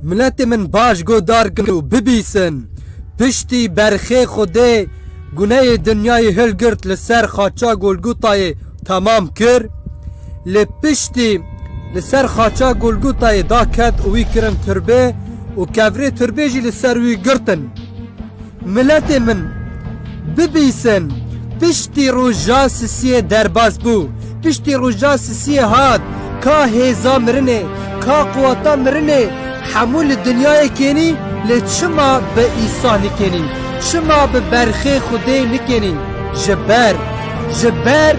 Miletê min baş godar kin û bibîsin. Piştî berxê Xwedê guneyê dinyayê hilgirt li ser xaça Golgotayê temam kir. Lê piştî li ser xaça Golgotayê da ket û wî kirin tirbê û kevirê tirbê jî li ser wî girtin. Miletê min, bibîsin, piştî roja sisiyê derbas bû, piştî roja sisiyê hat, ka hêza mirinê, ka quweta mirinê, hemû li dinyayê kênî, lê çima bi Îsa nikênî, çima bi berxê Xwedê nikênî? Ji ber, ji ber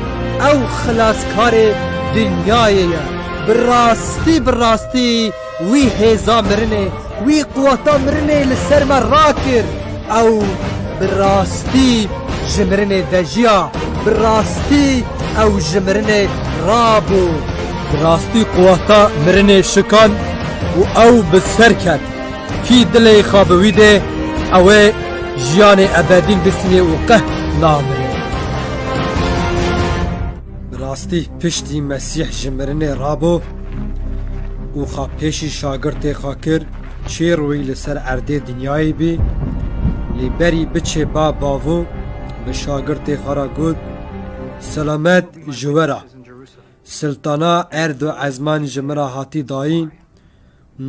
ew xilaskarê dinyayê ye, bi rastî bi rastî, Wî hêza mirinê, wî quweta mirinê li ser me rakir. Ew bi rastî ji mirinê vejiya, bi rastî ew ji mirinê rabû. Bi rastî quweta mirinê şikand û ew bi ser ket. Kî dilê xwe bi wî dê, ew ê jiyanê ebedîn bisinê û qeh namirê. Bi rastî Piştî Mesîh ji mirinê rabo û xwe pêşî şagirtê xwe kir, çê royî li ser erdê dinyayê bî, lê berî biçê ba bavo bi şagirtê xwe re got, Selamet ji we re! Siltana erd û ezman ji min re hatî dayîn.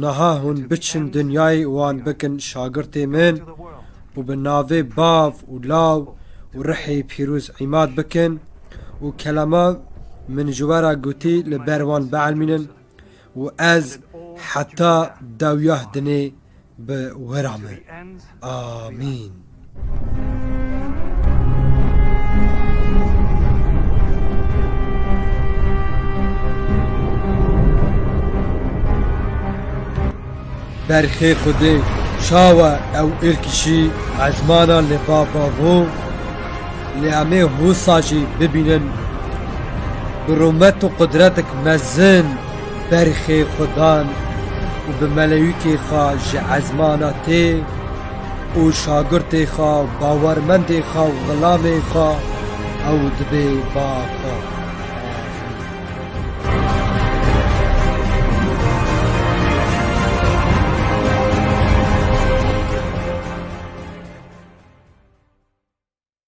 Niha hûn biçin dinyayê wan bikin şagirtê min û bi navê bav û law û rihê pîroz îmad bikin û kelama min ji we re gotî li ber wan bielmînin û ez heta dewyah dinê bi wira me. Amîn. berxê Xwedê şawe ew êrkişî ezmana li bava bû lê em ê hûsa jî bibînin bi rûmet û qudretek mezin berxê Xwedan û bi melewîkê xwe ji ezmana tê û şagirtê xwe bawermendê xwe û xilamê xwe ew dibê ba xwe.